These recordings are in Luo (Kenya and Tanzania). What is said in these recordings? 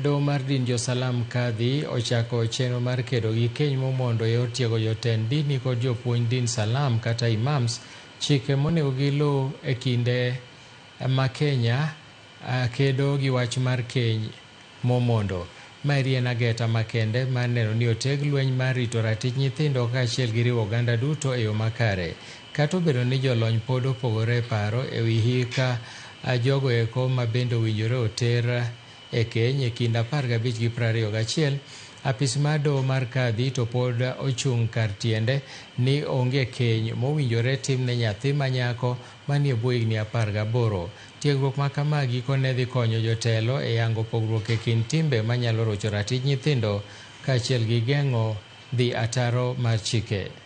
Doho mar din josalam, Kadhi, ochako chenro mar kedo gi keny momondo eyor tiego jotend dini kod jopuonj din salam kata Imams chike monego gi luu e kinde ma Kenya kedo gi wach mar keny momondo. Maeri en ageta makende mar neno ni oteg lweny mar rito ratich nyithindo kaachiel gi riwo oganda duto eyo makare. Kata obedo ni jolony pod opogore e paro ewi hik jogo eko mabende owinjore oter E keny e kind apar gabich gi prariyo gachiel, apis mar doho mar Kadhi to pod ochung' kar tiende ni onge keny mowinjore tim ne nyathi ma nyako manie bwo higni apar gaboro. Tiegruok ma kama gikone dhi konyo jotelo e yango pogruok e kind timbe manyalo rocho ratij nyithindo kaachiel gi geng'o dhi ataro mar chike.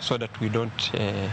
so that we don't uh,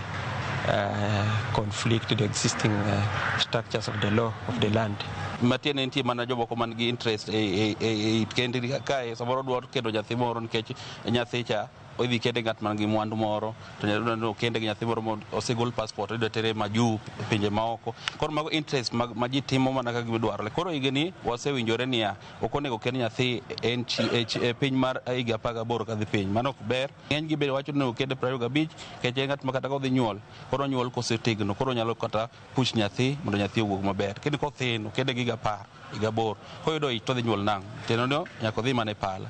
uh, conflict the existing uh, structures of the law of the land. matiende nitie mana jomoko man gi interest e, e, e, e it kendi kae samoro dwa kendo nyathi moro nikech nyathi cha idhi kende ng'at man gi mwandu moro to nyathi kende gi nyathi moro ma osegol passport idwa tere ma juu pinje maoko koro mago interest ma, ma ji timo mana kaka gidwarore koro higni wasewinjore niya ok onego kend nyathi en chi- e chi- e piny mar higa apar gaboro kadhi piny mano ok ber Ng'eny gi bende wacho ni okende piero ariyo gabich kech en ng'at ma kata kodhi nyuol koro nyuol kosetegno koro nyalo kata push nyathi mondo nyathi owuog maber. Kendo kothin okende gi gapar gi gaboro koyudo ich todhi nyuol nang' teno nyaka odhi mana e pala.